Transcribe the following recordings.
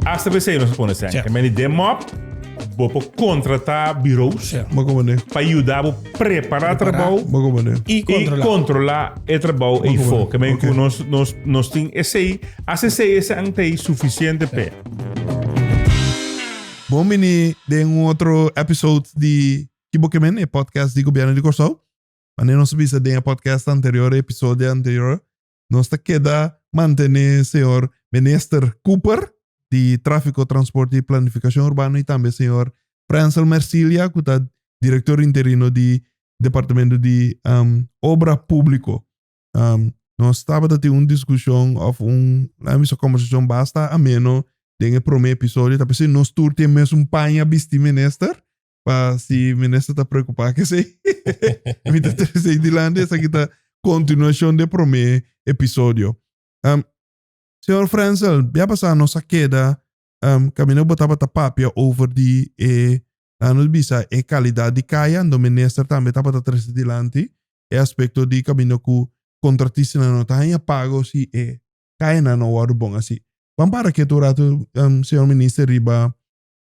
Asta pa esei nos a pone esei. Tja. Meni den mop, bo por contrata bureaus Tja. Bo como ne? pa yuda bo prepara trabou Bo como ne? Y i controla. controla e trabou ei Oké, fo. Ke men oké. ku nos nos nos tin esei, as esei esan tei suficiente pe. Bon bini den un otro episode di Kibo Ke Men, e podcast di Gobierno di Curaçao. Mane nos a bisa den e podcast anterior, e episodio anterior, nos ta keda mantené señor Minister Cooper di Tráfico, Transporte y Planificación Urbano y tambe señor Francel Mercilia cu ta Director Interino di Departamento di um, Obra Público. Um, nos tabata tin un discusión of un, laat bisa conversación basta ameno den e prome episodio, ta pesi nos tur tin mes un paña bisti minister, pa si minister ta preocupa cu esey. Mi ta trece esey dilanti, esaki ta continuacion de prome episodio. Um, Señor Frenzel, bia pasa nos a keda um, camino botaba ta papia over di e, la nos bisa, e calidad di kaya, ando minister tambe tapa ta trece dilanti, e aspecto di camino cu contratisnan no ta hanja pago si e kayanan no worde bon asi. Ban para ketu rato, um, señor minister, riba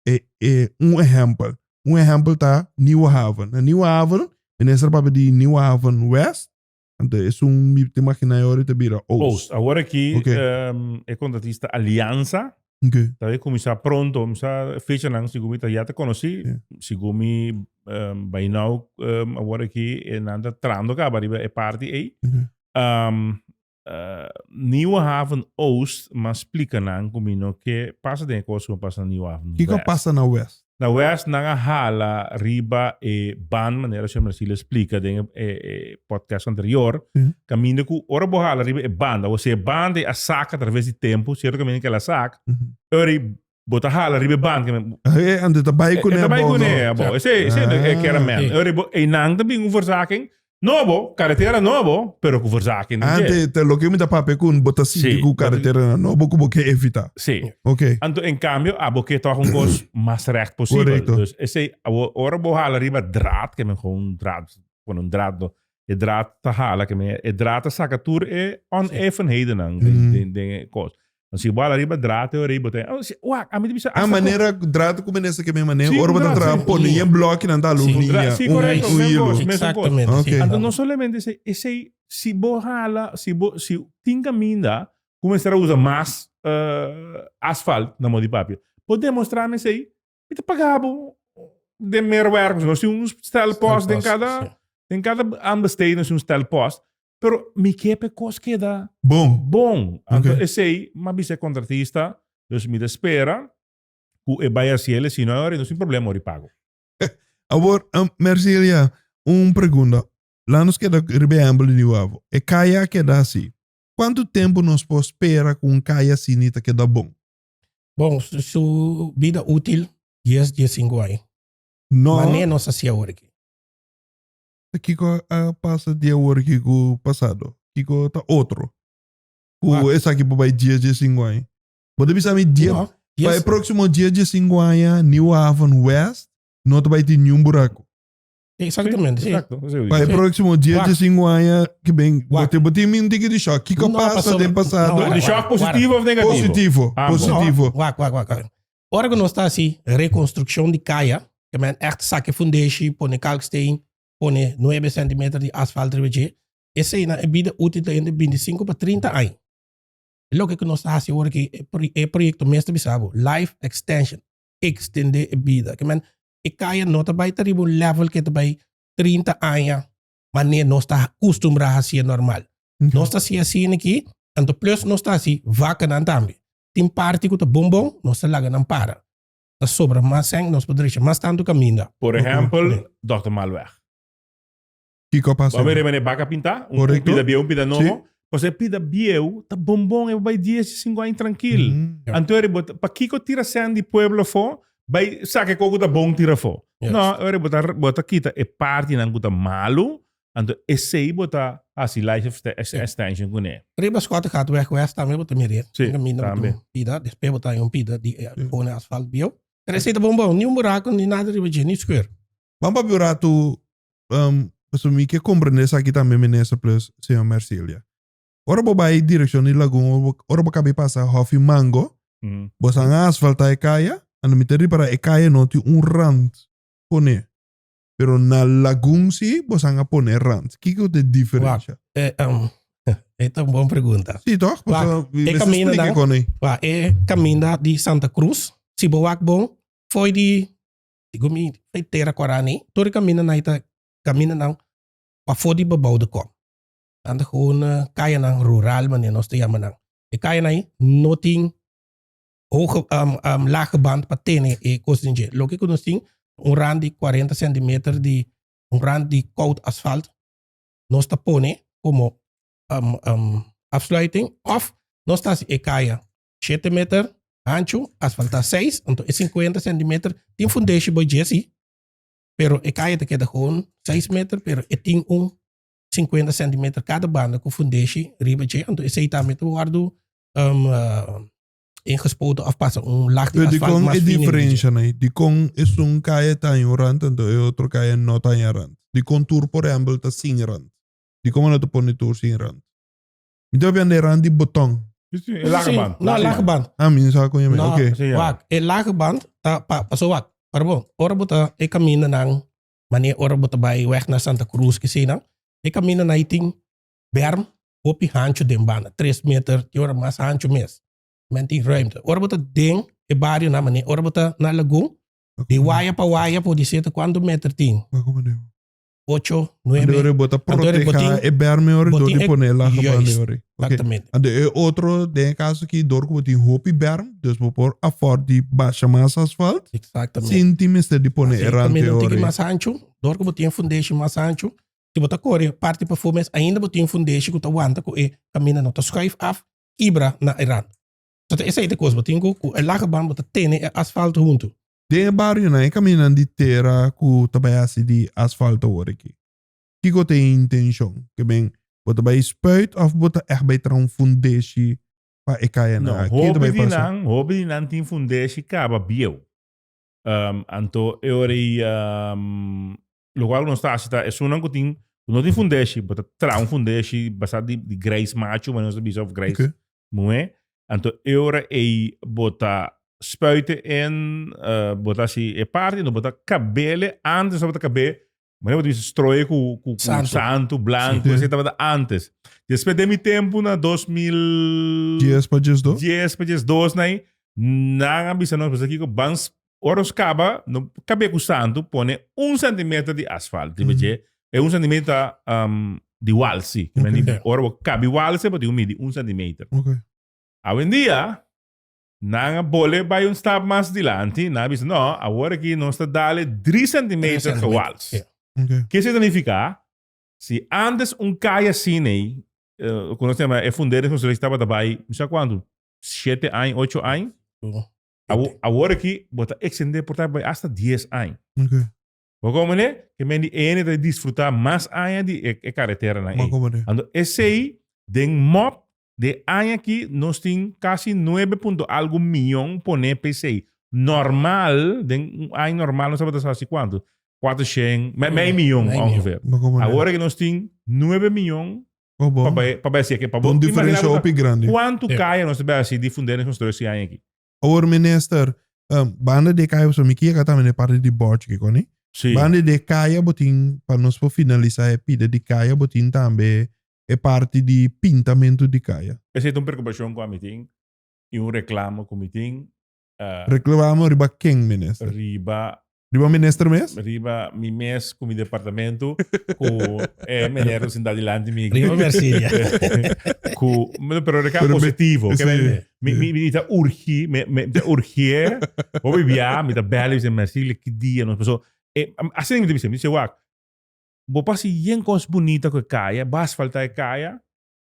e e un ehèmpel un ehèmpel ta Nieuwe Haven na Nieuwe Haven minister papia di Nieuwe Haven West anto esun mi ta imaginá e ora ta bira Oost Oost awor aki Oké. em, e kontratista Alianza oké ta be kuminsá pronto mi sa fechanan segun mi ta ya ta konosí Ja. segun mi em, bai nou em, awor aki e nan ta trando kaba riba e parti ei oké Am, Nieuwe Haven Oost m'a splika nan ku mi no ke pasa den e kos ku a pasa na Nieuwe Haven West. Kiko a pasa na West? Na West nan a hala riba e ban manera señor Marsilio a splika den e podcast anterior, kaminda ku ora bo hala riba e banda, bo si e banda a sak atraves di tempu, sierto kaminda kel a sak, ora Bo ta hala riba e band. Hé, ande ta bai kuné. Ta bai kuné, bo. Ese, ese e kera men. Ori bo, e nan ta bin un verzaking. No bo, karetera no bo, pero ku verzaking ta dje. Ante, te loke mi ta papia ku bo ta sinti ku karetera nan no bo ku bo ke evitá. Sí. Ok. Anto, en kambio, abo ke tòg un kos mas rèkt posibel. Korekto. Dus, ese, abo, ora bo hala riba draad, ke men gou un draad, pone un draad do, e draad ta hala, ke men, e draad ta saka tur e onevenheidennan den, den e kos. Bo si wala riba drato e orei bo ta oh, si, wak, ami ta bisa Nan hasta con- manera drato ku menesa ke men mane Sí, ora bata drato, tra sí. pone yen bloki nan ta lu Sí. un Dra- iya sí, un correcto, un men hilo. gosh, men- Exactamente. Ok. sí. Anto no solamente ese, ese si bo hala, si bo si tin caminda, comenzar a usa mas eh, asfalt na modi papia. Bo demostra me sei Mi ta paga bo den medewerkers. Nos tin un stel post den kada, sí. den kada aanbesteden nos tin un stel post. Pero mi ke pe kos keda Bon. bon. Anto Ok. esei, ma bisa e kontratista, dus mi ta spera ku e bai hasi el, e sino ora nos tin problema ora di pago. Awor, um, merci Elia. Un pregunda. Laat nos keda riba e ehempel di New Avo. E kaya a keda hasi. Kuantu tempu nos por spera ku un kaya asini ta keda bon? Bon, su bida útil dies, dies sinku aña. No. Mané nos a siya awor aki? Ta kiko a pasa di awor aki ku pasado? Kiko ta otro ku Wak. esaki por bai dies, dies sinku aña? Bo ta bisa mi dia, No, pa dies. e próksimo dies, dies sinku aña New Haven West no ta bai tin niun buraku. Exactamente. Sí. Exacto. Eso Pa e Sí. próximo 10, Wacht. 15 aña que ven, Wacht. bote bote min tiki di shock. Kiko No, pasa pasó. den pasado? No, De shock positivo of negativo? Positivo, Ambos. positivo. No, wacht, wacht, wacht. wacht. Ora que nos está así, reconstrucción de calle, que men echt saque fundeshi, pone kalksteen, pone 9 centimeter de asfalt rebeje, ese na e vida útil de entre 25 para 30 años. Lo que que nos está así ahora que e pro- e proyecto meeste bisabo, life extension, extender e vida. Que men e kaya no ta bai ta riba un level ke ta bai trinta aña mane nos ta kustumbrá hasié normal. Nos ta hasié asina aki, anto plus nos ta hasi vakanan tambe. Tin parti ku ta bon bon, nos ta laga nan para. Ta sobra mas sèn, nos por drecha mas tantu kaminda. Por ehèmpel, Dòkter Malweg. Kiko a pasa? Bo a mira mane baka pinta, un pida bieu, un pida nobo. Pasobra e pida bieu ta bon bon, e bo bai dies di sinku aña trankil. Anto ora bo ta, pakiko tira sèn di pueblo afó, bai saka e kos ku ta bon tira afó? No, ora bo ta kita e partinan ku ta malu, anto esei bo ta hasi life extension kuné. Riba Scott Gat Weg West tambe bo ta mir'é. Si, tambe. Pida, despues bo ta haña un pida di kone asfalt bieu. Pero esei ta bon bon, ni un buraku, ni nada riba dje, ni skeur. Ban papia un ratu, um, pasobra mi ke komprendé esaki tambe, Minister plus Señor Mercilia. Ora bo bai direkshon di lagun, ora bo, ora bo kabi pasa Hòfi Mango, Mm. bo san a asfaltá e kaya, ando mi ta ripará e kaya no tin un rand poné. Pero na lagun si, bo san a poné rand. Kiko ku ta e diferensha? Eh, um, e ta un bon pregunta. Si tòg? Wa, Pasobra mi e mester kaminda splika nan- ikon ei. Wa, e kaminda di Santa Cruz, si bo wak bon, foi di Digo mi, fai tera ku Arani. Tur e kaminda nan e ta kaminda nan pafó di Babou de Kom. Tanta ku un kayanan rural manera nos ta yama nan. E kayanan ei no tin hoge lage band pa tene e kos den dje. Loke ku nos tin un rand di kuarenta sentimeter di un rand di koud asfalt nos ta pone komo afsluiting òf nos ta hasi e kaya. Shete meter anchu, asfaltá seis, anto e sinkuenta sentimeter tin fundeshi bo dje sí, pero e kaya ta keda kon seis meter, pero e tin un sinkuenta sentimeter kada banda ku fundeshi riba dje, anto esei tambe ta wòrdu ingespoten òf pasa un lag di asfalt mas fin riba dje. Pero dikon e diferensha na ei? Dikon esun kaya ta haña un rant, anto e otro kaya no ta haña rant? Dikon tur, por ehèmpel, ta sin rant? Dikon bo no ta pone tur sin rant? Mi ta habiendo e ran di botón. Sí, sí, e laag Sí, band. No, laag band. Ah, mi no sabe con je me. No, Ok. Sí, ja. wak. E laag band ta pa, paso wak. Para bo, ora bo ta e kaminda nan, mane ora bo ta bai weg na Santa Cruz kesinan, e kaminda nan tin berm hopi hancho den banda, tres meter, tin ora mas hancho mes. Men tin ruimte. Ora bo ta den e bario nan, mane ora bo ta na lagun, di waya pa waya por di seta cuanto meter tin. Wak, wak, wak. ocho, nuebe. Ande ori bota proteja e berme ori door di pone la gebande ori. Exactamente. Ande e otro den caso ki door ku botin hopi berm, dus bo por afford di basha mas asfalt. Exactamente. Sin tin mester di pone e rante ori. Tiki mas ancho, door ku botin foundation mas ancho. Si bota kore parti pa fo mes ainda botin foundation ku ta wanta ku e camina no ta schuif af, kibra na e rant. So ta esei ta kos botin ku e la geban bo ta tene e asfalt huntu. Den e barionan, e kaminan di tera ku ta bai hasi di asfalto awor aki, kiko ta e intenshon? Ke men, bo ta bai spuit òf bo ta ègt bai traha un fundeshi pa e kayanan? No, hopi di nan, hopi di nan tin fundeshi kaba bieu. Anto e ora ei Loco awe nos ta haci ta esunnan cu tin, cu no tin fundeshi, bo ta traha un fundeshi basá di, di grijs macho, mane nos ta bisa, of grijs Ok. muhé. Anto e ora ei bo ta spuite en, eh, bo ta haci e parti, anto bo ta cabele antes tabata cabé, mane bo ta bisa stroe cu, cu, cu Santo. santo, blanco, Sí. esei tabata antes. Despues den mi tempo, na dos mil... Dies pa dies dos. 10 pa 10, 2 na ei, nan a bisa nos, Kiko, ban Ora nos caba, no cabia cu santo pone un centimeter di asfalt riba dje. E un centimeter ta um, di walsi. Oké. Men di- Ora bo cabi walsi, bo tin cu midi un centimeter. Ok. Awendia, nan a bole bai un stap mas dilanti, nan a bisa, no, awor aki nos ta dale drie centimeter per wals. Ja. Ok. Ke se significa? Si antes un kai asin ei, eh, cu nos ta yama, e fundering constructie tabata bai, mi sa cuantu, siete aña, ocho aña, Bo. Awo, awor aki, bo ta extendé por ta bai hasta dies aña. Ok. Bo komo manera ke men di EN ta disfrutá mas aña di e, e kareterenan Ma ei. komo de. Ando esei, den mòp de aña aki, nos tin kasi nuebe punto algu mion poné pa esei. Normal, den un aña normal nos tabata sa si kuantu, kuatroshen, mei, mei mion, Mei mion. ongeveer. Ma komo de. Awor aki nos tin nuebe mion Pa bo. Pa bai, pa bai hasi eki. Pa bo. Un diferensha Imagina bo hopi ta grandi. kuantu kaya nos ta bai hasi di fundering nos konstrui si aña eki. Awor minister, em, banda di e kaya pasobra mi kier ka tambe na e parti di bòrchi kiko ni. Si. Banda di e kaya bo tin, pa nos por finalisa e pida di kaya, bo tin tambe e parti di pintamentu di kaya. Esei ta un prekupashon ku ami tin i un reklamo ku mi tin. Reclamamo riba ken minister? Riba. Riba minister mes? Riba mi mes cu mi departamento cu e meneer lo sinta dilanti mi. Riba Mercilia. cu pero de can positivo. Mi ta urgi mi ta urgie bo mi bia mi ta bel mi ta Mercilia ki dia nos paso asina mi ta bisa mi ta si wak bo pasa yen cos bunita cu e caya bo asfalta e caya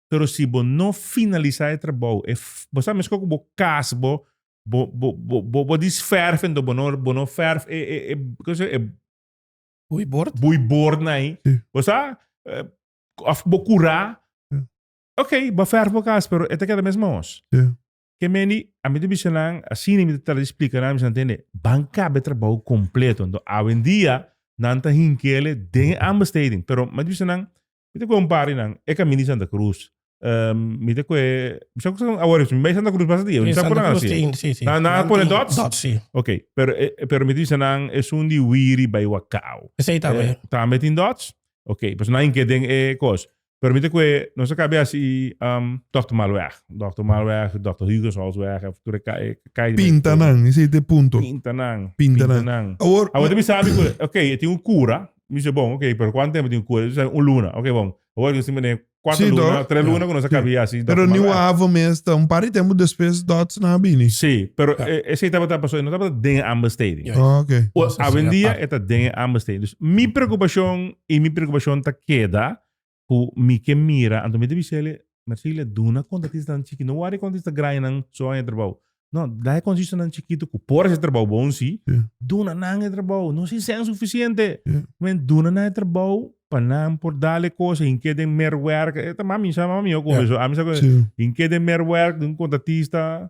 Pero si bo no finalisa e trabou, e bo sa meskos ku bo kas bo, bo bo bo bo disverf enton bo no bo no verf e e e kon se e Boeibord? boeibord na ei. Sí. Bo sa of bo kura, Sí. ok, bo a verf bo kas pero e ta keda mes maos. Sí. Ke mendi a mi ta bisa nan, asina mi ta trata di splika nan, mi bisa nan tende, ban kaba e trabou kompleto. Enton awendia nan ta hinkele den aanbesteding, pero mi ta bisa nan Mi ta kue un par di nan e camin di Santa Cruz. Ehm, mi ta kue, mi sa cu sa, awor, si mi bai Santa Cruz pasa dia, mi In sa cu Santa nan Cruz hasi. tin, si, si. Nan, nan a Nan pone tin dots? Dots, si. Ok, pero, e, e- pero mi ta bisa nan esun di wiri bai Wacau. Esei tambe. Eh, tambe tin dots? Ok, pues nan inke den e cos. Pero mi ta kue, nos a cabe hasi, ehm, Dokter Malweg. Dokter Malweg, Dokter Huygensholzweg, of tur e ca- e calle. Pinta nan, esei ta e punto. Pinta nan. Pinta nan. Awor, Awor ta mi sabi cu, ok, e tin un cura. Mi se bon, ok, pero kuan tempu tin ku e? Un luna. Ok, bon. Awor ke si mi den kuater Si, luna, dòt. tres luna ku nos a kabia asi dòt Pero ta niu malbra. avo mes ta un par di tempu despues dòtsnan a bini. Si, pero Ta. e esei tabata paso, e no tabata den e Amber Stadium. Juist. Ah, ok. O- Nos a hasi Awendia aparte. e ta den e Amber Stadium. Dus mi prekupashon i mi prekupashon ta keda ku mi ke mira anto mi ta bisa ele Mercilia duna konta artistanan chikito no wari kon artista grandenan so haña trabou no da e konsistonan chikito ku por hasi trabou bon si duna nan e trabou no si sèn sufisiente men duna nan e trabou pa nan por dale kos hin ke den mer wèrk e ta mami sa mami ho kome so ami sa kos hin ke den mer wèrk di un konta artista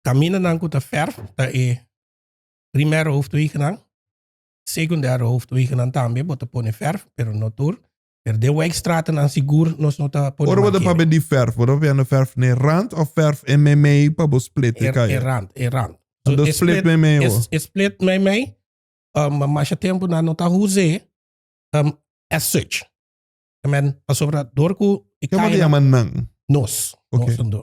Caminanan cu ta ferf ta e primer hoofdwegennan. Secundaire hoofdwegennan tambe bo ta pone ferf, pero no tur. Pero den wijkstratennan sigur nos no ta pone Ora bo ta mankening. pabe di ferf, bo ta wende ferf na e rand of ferf e meimei pa bo split di E, e kaya? rand, e rand. Bo ta split meimei e, awor? e split meimei, um, masha tempo nan no ta huz'é, um, as such. Ta men, pasobra dor cu e Ke bo ta kaya nan, yama nan? nos, Ok. nos ta do.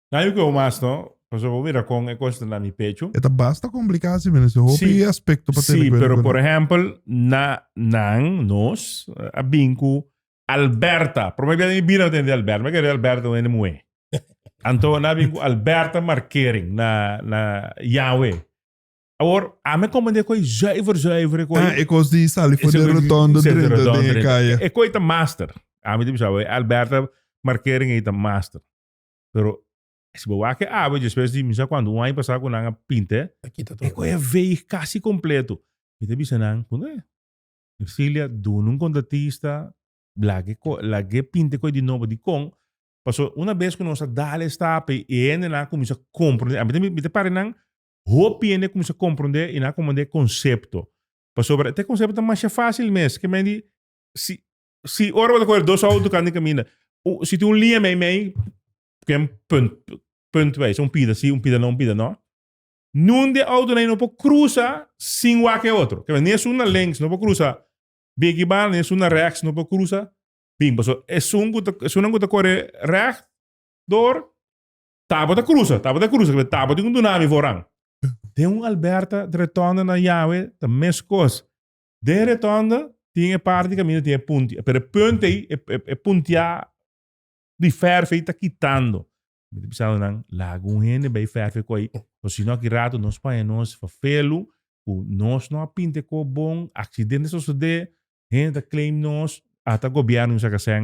Nan yu keu mas no, pasobra bo mira kon e kos ta na mi pechu. E ta basta komplikado si menen, si hopi Sí, aspekto pa tene sí, kuenta pero ku por nan. ehempel, na, nan, nos, a bin ku Alberta. Prome bia den mi bida no ta hende Alberta. Mi a kere Alberta ta un hende muhé. Anto nan a bin ku Alberta Markering na, na Yahwe. Awor, ami a komprendé ko'i zuiver, zuiver, e ko'i. Ah, e kos di sali for den rotondo Sali drenta rotondo den e drenta. kaya. E ko'i ta master. Ami ta bisa, awor, e Alberta Markering ei ta master. Pero si bo wak e awe despues di mi sa cuanto, un aña pasado cu nan a pint'e, Ta kita e todo. coge e veeg casi completo. Mi ta bisa nan, Pun'e, Ercilia, duna un contratista, lag'e co- lag'e pint'e coge di nobo di con. Paso una bes cu nos a dal e stap'e y e hendenan a cuminsa comprende. A mi ta mi ta pare nan hopi hende a cuminsa comprende y nan a comprende e concepto. Pasobra te concepto ta masha facil mes. Ke men di, si Si ora bo ta coger dos auto kan den caminda. U- Si tin un linea mei mei, ken punt, punt wijs, un pida si, un pida no, un pida no. Nun de auto nei no por cruza sin wak e otro. Kebe, ni esun na links no por cruza biggie bar, ni esun na rechts no por cruza bin. Paso esun cu ta, esunnan cu ta core recht door, tabo ta cruza, tabo ta cruza, kebe tabo tin un dunami foran. Den un Alberta retonda na Yawe ta mes cos. Den retonda tin e parti kaminda tin e puntia pero e punt ei e puntia di ferf ei ta kitando mi ta bisa nan laga un hende bai ferfe ku ei osino aki rato nos paña nos fafelu ku nos no a pinta e kob bon aksidente a sosode hende ta claim nos ata gobierno mi sa kasén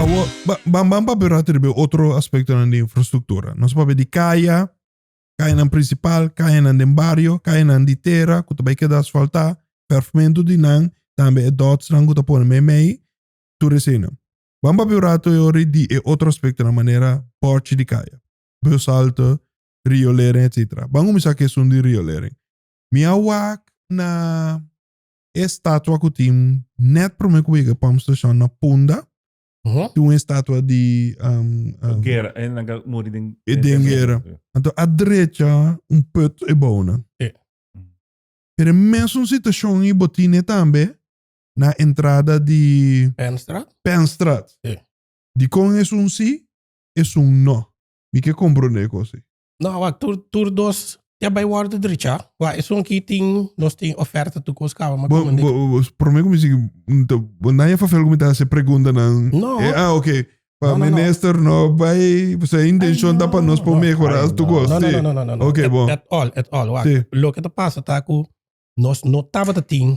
Awo, ba, ban, ban papia rato riba e otro aspektonan di infrastruktura. Nos papia di kaya, kayanan prinsipal, kayanan den bario, kayanan di tera ku ta bai keda asfaltá, pèvmentu di nan, tambe e dòtsnan ku ta pone meimei, tur eseinan. Ban papia un rato yori di e otro aspektonan manera bòrchi di kaya, bushalte, riolering, etsetera. Ban kuminsá ku esun di riolering. Mi a wak na. e statua ku tin nèt promé ku yega Pump Station na Punda, tin un estatua di um, um, Gera, en laga muri den. e den gera. Anto a drecha un put e bounan. Sí. Pero e mesun situashon i bo tine tambe na entrada di Pennstra? Penstraat. Sí. Dikon esun sí, esun no? Mi ke komprondé e kos ei. No, wak, tur, tur dos ya bai worde dricha. Wak, esun ki tin, nos tin oferta tu kos kaba, ma Bo, komende. bo, bo, prome ku mi si, mm, ta- bo nan ya fafel ku mi ta hasi pregunta nan. No. E, ah, ok. Pa No, no, no. minister no bai, pasobra e intenshon Ay, ta pa no. nos pa No. mehorá Ay, tu no. kos. No, no, Sí. no, no, no, no, no. Ok, At, bon. at all, at all. Wak, Sí. loke ta pasa ta ku nos no tabata tin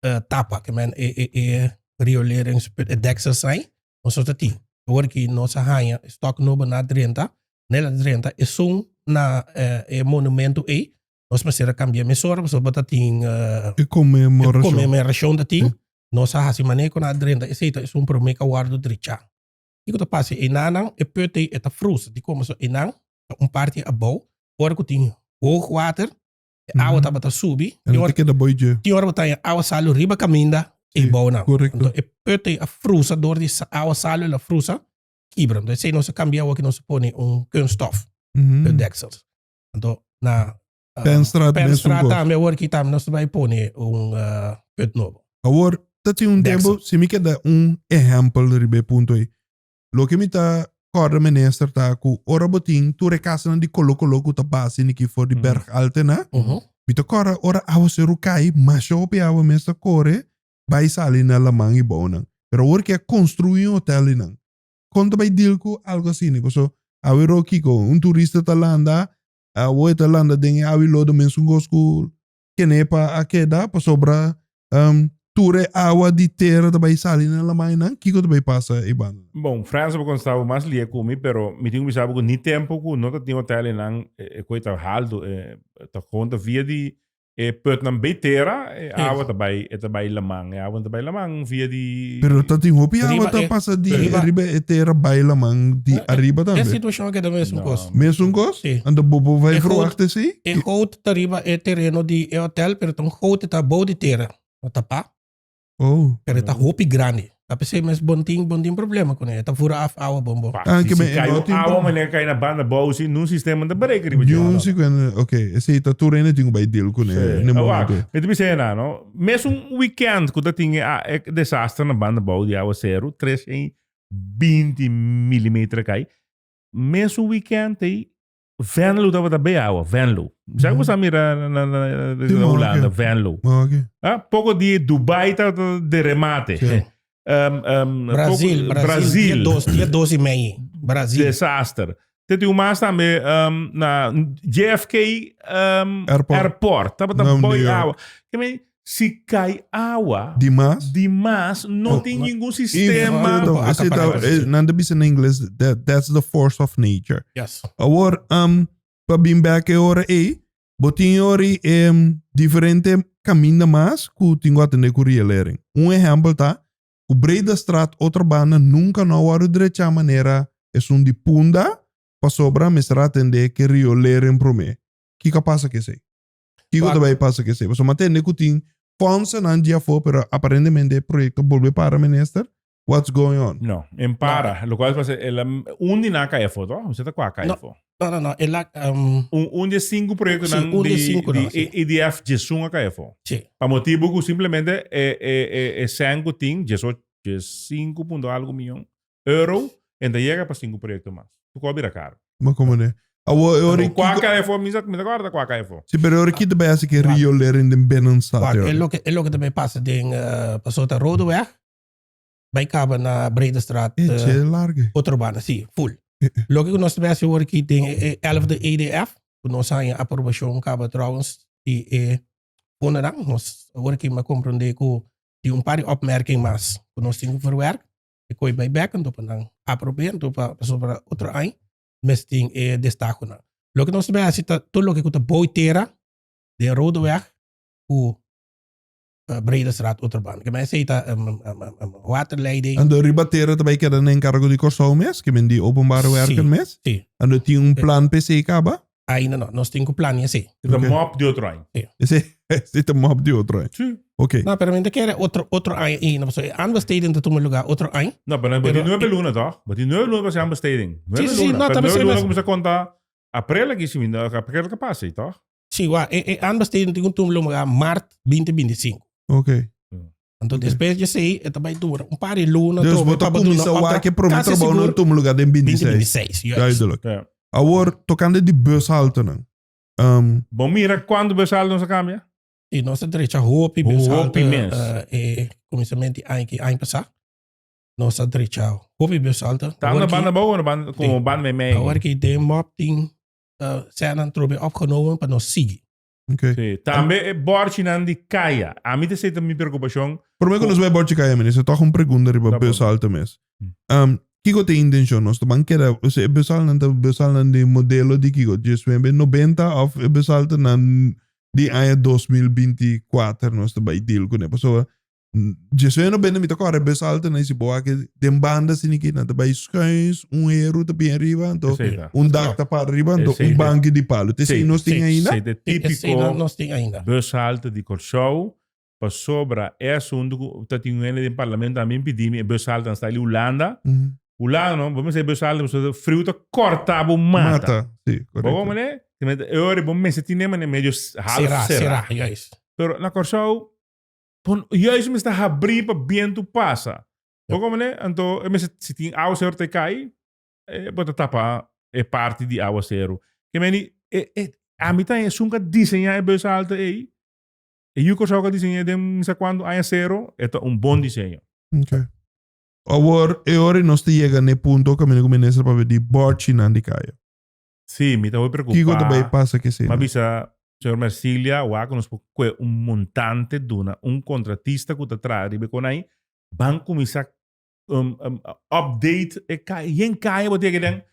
uh, tapa, que men e, e, e riolering, e deksel sai, nos ta tin. Ora ki nos a hanja stok nobo na drenta, nel a drenta, e sun na uh, e monumento ei, nos mester a kambia mesora, paso ta tin uh, e conmemoracion. conmemoracion ta tin, nos a hasi mané con a drenta, e seita e sun prome ka wardo dricha. Iku ta pasi, e nanan, e putei, e ta frus, di como so e nan, un parti abou, ora ku tin hoog water, Awa tabata subi. En lo te keda boi dje. Tin ora botaya awa salu riba kaminda e Sí, bou nan. correcto. Anto e put e a frusa door di sa- awa salu el a frusa kibra. Anto esei nos a kambia awor ki nos a pone un kunststof Mhm. put deksels. Anto na ah, Penstraat mes un Penstraat kos. tambe awor ki tambe nos ta bai pone un ah, put nobo. Awor, ta tin un Deksel. tempo, si mi ke da un ehempel riba e punto ei. Loke mi ta kòrda minister ta ku ora bo tin tur e kasanan di koló koló ku ta base ni ki for di Berg Altena, mi ta kòrda ora awaseru kai masha hopi awa mes ta kore bai sali na laman i bounan. Pero awor ke a konstruí un hotèl di nan. Kon ta bai dil ku algu asina? Paso awe ro Kiko, un turista ta landa, awo e ta landa den e awi lodo mesun gos ku kenepa a keda pasobra um, tur e awa di tera ta bay sali na lamainan, kiko ta bay pasa e banda? Bon, Frans a por contesta abo mas lie cu mi, pero mi tin cu bisa abo cu ni tempo cu no ta tin hotel enan, e, e koe ta haldo, e, ta gewoon ta via di e putnan bay tera, e Yes. awa ta bay, e ta bay laman, e awa no ta bay laman via di... Pero ta tin hopi awa Riba ta e- pasa di riba- riba e tera bay laman di arriba E tambe. situacion a keda mesun No. cos. Mesun kos? Sí. Anda bobo vai E verwacht is i? E goud, Ta riba e tereno di e hotel pero ta un gote ta bou di tera. No ta pa. Oh. Pero e ta hopi grandi. Ta p'esei mes bon tin bon tin problema cu nan. E ta vura af awa bon bon. Ah, si kibe e cai no un tin awa problem. manera cai na banda bou si nun sistema ta break riba dje. Niun sicuen, ok. Esei ta tur rende tin cu bay deal cu nan n'e momento. Wak, mi ta bisa e nan no. Mes un weekend cu ta tin e a e desaster na banda bou di awa seru, tres hei binti milimeter a cai. Mes un weekend hei Venlo tabata be awa, Venlo. Sa ku sa mira na na Holanda, Venlo. Ah, poco di Dubai ta de remate. Um, um, Brazil, poco, Brazil. Dia dos, dia dos y meio. Brazil. Desaster. Te tem mais também um, na JFK um, airport. airport. Tava tá boy awa. Que me Si cai awa di mas no tin ningun sistema. Nan ta bisa na ingles that's the force of nature. Awor pa bin bek e ora ey bo tin yori e diferente caminda mas cu tin cu atende cu rielering. Un ehempel ta cu Bredastraat otro banda nunca no a worde drecha manera esun di punda pasobra a mester atende cu riolering prome. Kico a pasa cu esey? Kiko ta bay pasa cu esey? Pasobra m'a tende cu tin fondsanan dje afo, pero aparentemente e proyecto a bolbe para, Minister. What's going on? No, en para. Locual ta pasa, el a, un di nan a cay afo, to? Usted ta cu a cay afo? No, no, no, el a, um, Un, un di e cinco proyectonan Sí, un di e cinconan, di sí. EDF djesun a cay afo. sí. Pa motibu cu simplemente e, e, e, e cen cu tin, djesocho, dje cinco punto algo miyon, Euro en ta yega pa sinku proyekto mas. Su kò a bira karu. Ma komo ne? Awor e ora i Kua kiko. KFO? Mi sa, mi ta kòrda kua KFO. Si, pero e ora i kito bai hasi ke riolering den Binnenstad Wak, e e ora. loke, e loke ta bai pasa den eh, paso ta Rodeweg, bai kaba na Bredestraat, E eh, tje large. otro banda, si, full. Loke ku nos ta bai hasi awor aki den e e elfde EDF, ku nos haña aprobashon kaba trouwens di e fondonan, nos awor aki mi a komprondé ku tin un par di opmerking mas ku nos tin ku verwerk. e koe bay bekentu pa nan aprobé anto pa paso para otro aña mes tin e destakonan loke nos debe hasi ta tur loke ku ta bou tera den rodeweg ku bredestraat otro banda ke men esei ta waterleiding Anto riba tera ta bay keda na enkargo di Kòrsou mes ke men di openbare werken mes si si anto tin un plan pa esei kaba Ainda no, nos tin cu plania esey. Dit a mop di otro aña. Esey, esey ta mop di otro aña. Sí. Ok. No, pero men ta kere otro, otro aña i no paso. E understating ta tuma lugar otro aña. No, pero Pero- di nuebe luna toch? But di nuebe luna was understating. Nuebe sí, sí, luna. no, Pero también nuebe sí, luna mas- comienza a contar april aquí si minder, april que pasa, toch? Sí, wa, e, e understating tin cu tuma lugar maart 2025. Ok. Anto dia? Despues di esei, e ta bai dura un par di luna. Dus trova, bo e ta pa ba duna kumisa wak update. e prome Kasi trabou sigur, nan tuma luga den 26. 2026, juist. Duidelijk. Ja. Awor, tokante di bushaltenan. ehm, Bo mira kuantu bushalten nos a kambia? Y nos a drecha hopi Hopi bushalte mes. eh, eh, comenzamento di año que año pasado. Nos a drecha hopi bushalte. Tanda Ahora que- banda boven, banda, como Sí. banda me mee. Ahora que de mop tin eh, zijn aan trobe opgenomen, maar nog zie. Okay. Sí, tambe e borchinan di kaya. A mi te seta mi preocupashon. Prome ku nos bai borchi kaya, minister, toch un pregunta riba Da por. beusal te mes. Mm. Um, kiko te intencion nos te ban keda, o sea, e beusalnan ta beusalnan di modelo di kiko? Dje swembe 90 of e beusal te nan di aña 2024 nos te bai deal kune? Pasobra Djesué no bende mi ta kòrè bes alto na isi boa aki den banda sini ki nan ta bai skuins un heru ta bin riba anto Sí. un dak ta para riba anto Esei un de- banki di palu te esei nos tin ainda Sei de Esei no típico nos tin ainda. bus halte di Kòrsou. Pasobra eso huntu ku ta tin un hende den parlamento a mi pidi mi e bus halte nan sta li Hulanda. Mhm. Hulanda no, bo mester e bus halte pasobra friu ta kòrtá bo mata. mata si Bo korekto hopi manera? Timenti e ora bo mester tin den manera medio s- half Será, será. será, juist. Pero na Kòrsou Por juist mi sta habrí pa bientu pasa. Bo komo ne? Anto e mester si tin awa seru ta e kai, e bo ta tapa e parti di awa seru. Ke meni e e ami ta e sunka diseñá e bus alto ei. E yu Kòrsou a ka diseñ'é den mi sa kuantu aña seru, e ta un bon diseño. Ok. Awor e ora nos ta yega n'e punto ku a mene ku Minister papia di bòrchinan di kaya. Sí, mi ta hopi preocupá. Kico ta bay pasa ki asina? M'a bisa Señor Mercilia wak cu nos por cue un montante duna un contratista cu ta traha riba e conai, ban cuminsa um, um, update e caya. Yen caya bo ta yega den?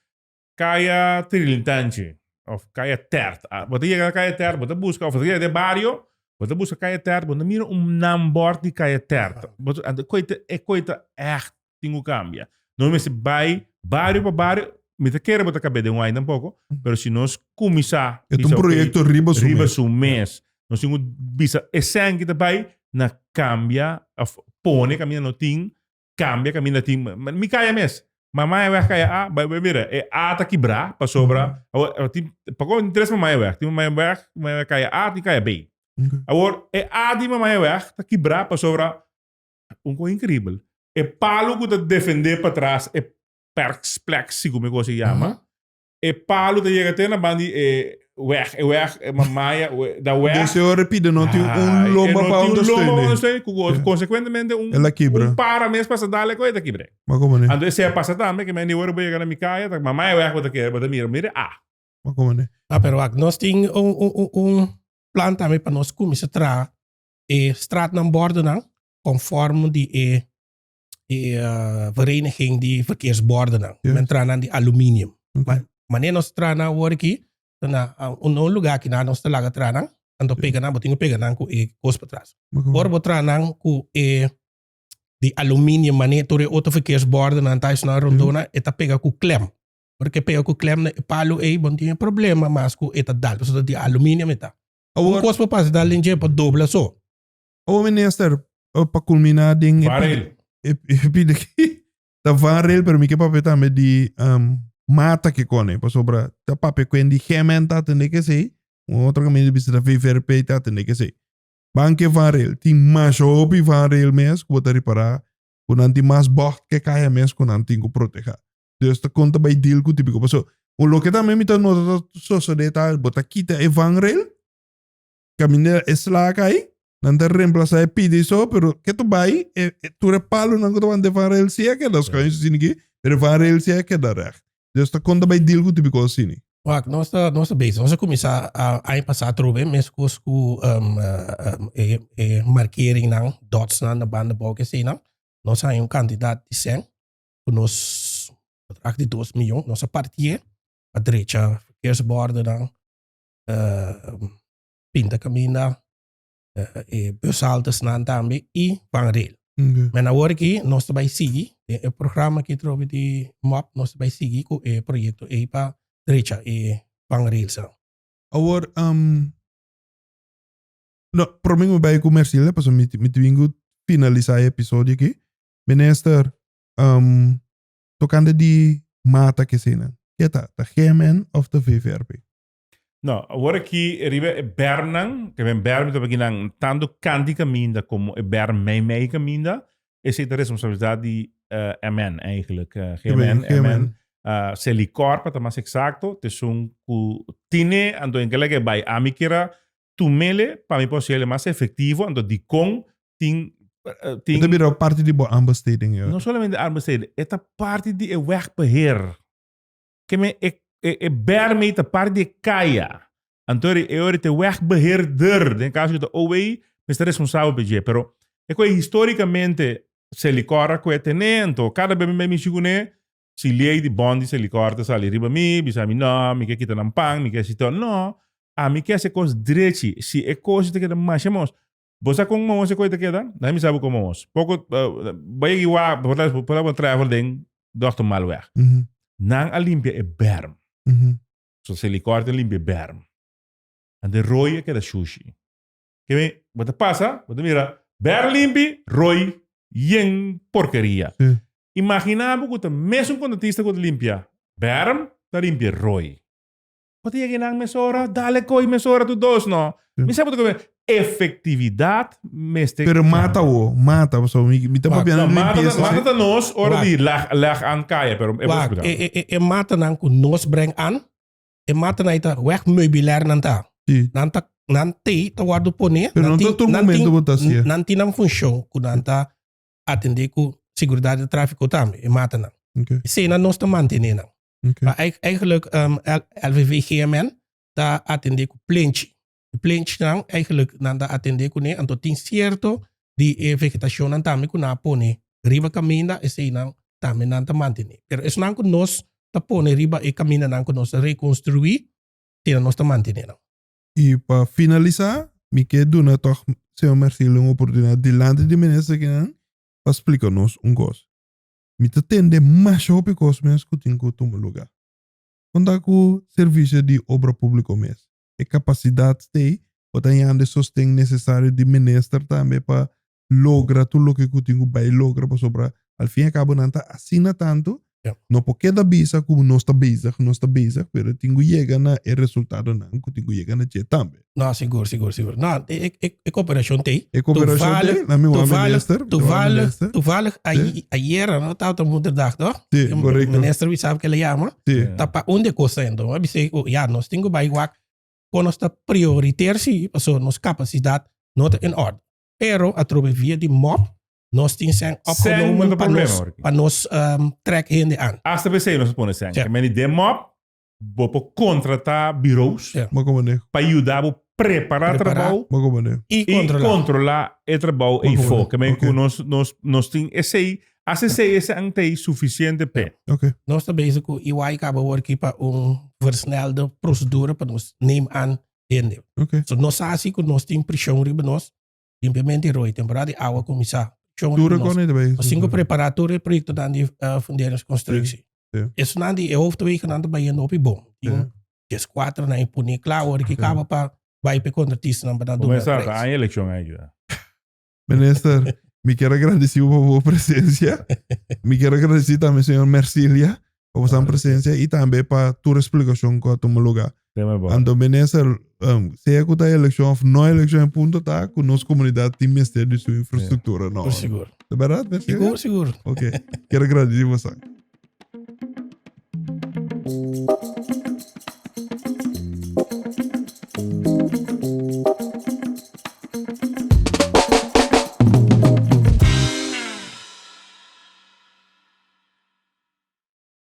Caya Tirilintanchi of Caya Tert. Ah, bo ta yega na Caya Tert, bo ta busca, of bo ta yega den e bario, bo ta busca Caya Tert, bo ta mira un naambord di Caya Tert. Bo ta, ante cue ta, e cue ta echt tin ku kambia. Nos mester bai bario pa bario, mi ta kere bo ta kab'é den un aña tampoko, pero si nos kuminsá E ta un proyekto riba su mes. riba su mes, nos tin ku bisa esèn ki ta bai na kambia òf pone kaminda no tin, kambia kaminda tin. Mi kaya mes, Mamai a wèg kaya A, bai bai mira, e A ta kibrá, pasobra awor a tin, pakoba tin tres mamai a wèg, tin mamai a wèg, tin mamai a wèg kaya A, tin kaya B. Awor e A di mamai a wèg ta kibrá pasobra Un kos inkribel. E palu ku ta defendé patras e perkspleksi, ku mi gosi yama, e palu ta yega te na ban di e weg, e weg, e mamaya, da weg. Dese ora e pida no tin un lomba pa ondersteunen. Ku konsekuentemente un para mes pas a dal e kos e ta kibr'é. Anto esei a pasa tambe ke mi anei ora bo yega na mi kaya ta mamaya weg bo ta kere, bo ta mira, mire a. Pero ak nos tin un plan tambe pa nos kuminsá traha e straatnan bordennan conform di e e uh, vereniging di verkeersbordennan. Yes. Men tra nan di aluminium. Okay. Ma, maneer nos tra nan worki, na un no lugar ki na nos te laga tra nan, anto yes. pega nan, bo tingo pega nan ku e kos pa tras. Okay. Por bo tra nan ku e di aluminium, maneer tur e otro verkeersbordennan tais na rondona, yes. eta pega ku klem. Porque pega ku klem na e palu ei, bon tin e problema mas ku eta dal, so di aluminium eta. Awor. Un kos pa pasa dal den dje pa dobla so. Awor minister pa kulminá den e pide ki ta vanrel pero mi ke papia tambe di mata kikone pasobra ta papia kuen di GMN ta atende kesei un otro kamiño ta bisa ta VVRP ta atende kesei. Ban ke vanrel tin masha hopi vanrel mes ku bo ta ripará ku nan tin mas bògt ke kaya mes ku nan tin ku protehá. Dios ta konta bai deal ku tibiko. Paso, un loke tambe mi ta nota ta sosode ta bo ta kita e vangrail, kaminda e sla kai, nan ta remplasá e pidi so, pero ke ta bai, e tur e palunan ku tabata den e vangrail si a keda skòin, si niki, pero e vangrail si a keda règt. Dios ta konta bai deal ku tipi kos asini. Wak, nos ta nos ta bezig. Nos a kuminsá aña pasá atrò e mes kos ku e markeringnan, dotsnan na banda bou, ke eseinan. Nos haña un kantidat di sèn. cu nos contract di dos miyon, nos a partié pa drecha verkeersbordennan, pinta caminda, e bushaltesnan tambe y vangrail. Main awor aki nos ta bay sigui den e programa aki atrobe di mop, nos ta bay sigui cu e proyecto ey pa drecha e vangrailsnan. Awor, no, prome mi bay cu Mercilda pasobra mi ta bin cu finalisa e episodio aki. Minister, tokante di mata kesinan, ke ta? Ta GMN of ta VVRP? No, awor aki riba e bèrmnan, ta ben bèrm mi ta wak aki nan tantu Kandy kaminda komo e bèrm Mei Mei kaminda, esei ta responsabilidat di MN eigentlik, GMN, MN, Selikor pa ta mas eksakto, t esun ku tine, anto e gele ke bai ami kira Tumele pa mi por ser el mas efectivo anto dikon tin tin. E ta bira parti di bo aanbesteding ya. No solamente aanbesteding, e ta parti di e wegbeheer. Ke men e e bermei ta parti di e kaya. Anto ri e ora te wegbeheerder, den e kaso ku ta OWEI, mester responsabel pa dje. Pero e ku e historikamente Selicorra ku e tene, anto kada bes mi bai mishi kuné, Si Liey di Bondi se likor ta sali riba mi, bisa mi, No, mi ke kita nan pan, mi ke si to. No, ami ke hasi e kos drechi. Si e koshi ta keda masha mos. Bo sa kon mos e koi ta keda? Dai mi sa bo kon mos. Poko, bo yegi wak, bo por ta, por ta bo trèvel den Dòkter Malweg. Nan a limpia e bèrm. So, se likor ta limpia e bèrm. Ante Roy a keda shushi. Kemi bo ta pasa, bo ta mira ber limpi, roi, yen porkeria. Sí. Imaginá bo ku ta mes un kontratista ku ta limpia berm, ta limpia roi. Bo ta yega ei nan mesora, dale ko'i mesora tu dos no. Mi sa bo ta komen efektividat mester. Pero mata awo, mata pasobra mi mi ta papia nan limpieza. Mata ta nos ora di leg an kaya pero e bo splikal. Wak, e matanan ku nos breng an e mata nai ta weg meubilair nan ta. Sí. Nan ta nan te ta wordo pone. Pero nan ta tur momento bo ta sia. Nan tin nan función ku nan ta atende ku seguridad di tráfiko tambe e mata nan. Okay. Esena nos ta mantene nan. Okay. Pa eigenlijk um, LVV GMN ta atende ku plenchi. Plenchnan eigenlijk nan ta atende cune anto tin cierto di e vegetacionnan tambe cu nan a pone riba caminda eseinan tambe nan ta mantene. Pero esnan cu nos ta pone riba e camindanan cu nos ta reconstrui keda nos ta mantene nan. Y pa finalisa mi kier duna toch Señor Mercilio un oportunidad dilanti di minister akinan pa splica nos un cos. Mi ta tende masha hopi cos mes cu tin cu tuma lugar. Con ta cu servicio di obra publico mes? e capacidad stay pa ta yanda e sosten necesario di minister tambe pa logra tur loke cu tin cu bay logra pasobra al fin y a cabo nan ta asina tanto no por keda bisa cu nos ta bezig nos ta bezig pero e tin cu yega na e resultadonan cu tin cu yega na dje tambe. No sigur sigur sigur no e cooperacion tey E cooperacion tey na mi wan minister toevallig toevallig toevallig ayer no tabata moederdag toch. Sí, Tem- correcto. Minister we sabe que le llama. Sí. Ta pa un de cosa en don. Dice, oh, ya, nos tengo bij wak. Con nos ta prioriter si, paso nos capacidad no ta en orde. Pero a través via di MOP, nos tin zijn Zijn opgenomen onder pa nos, problemen, hoor. pa nos ehm, trek hende aan. Hasta we say nos pone sen. Ja. Men die mop, Bo por contrata bureaus pa yuda bo prepara trabao y controla e trabao ey for. Ke men cu nos tin esey, as esey esean ta ey suficiente pe. Nos ta bezig cu EY caba wor aki pa un versnelde procedura pa nos neem aan hende. So nos sa asi cu nos tin prision riba nos. Limpiamento di roi, temporada di awa cuminsa. Tur recono ta bay. Así cu prepara tur e proyectonan di funderingnan construcci. Esonan di e hofto bay cu nan ta bayendo hopi bon. Tin dies cuatronan y pone clau ora cu caba pa bay pa e contratistanan pa nan duna e prijs. Aña eleccion a ayuda. Minister, mi kier agradeci bo pa bo presencia. Mi kier agradeci tambe señor Mercilia pa bos dan presencia y tambe pa tur explicacion cu a tuma lugar. Te me bo. Anto minister, um, sea cu ta eleccion of no eleccion, e punto ta cu nos comunidad tin mester di su infrastructura no. Por sigur. De verdad, Di minister? por sigur. Ok, quiero agradeci vos. ah.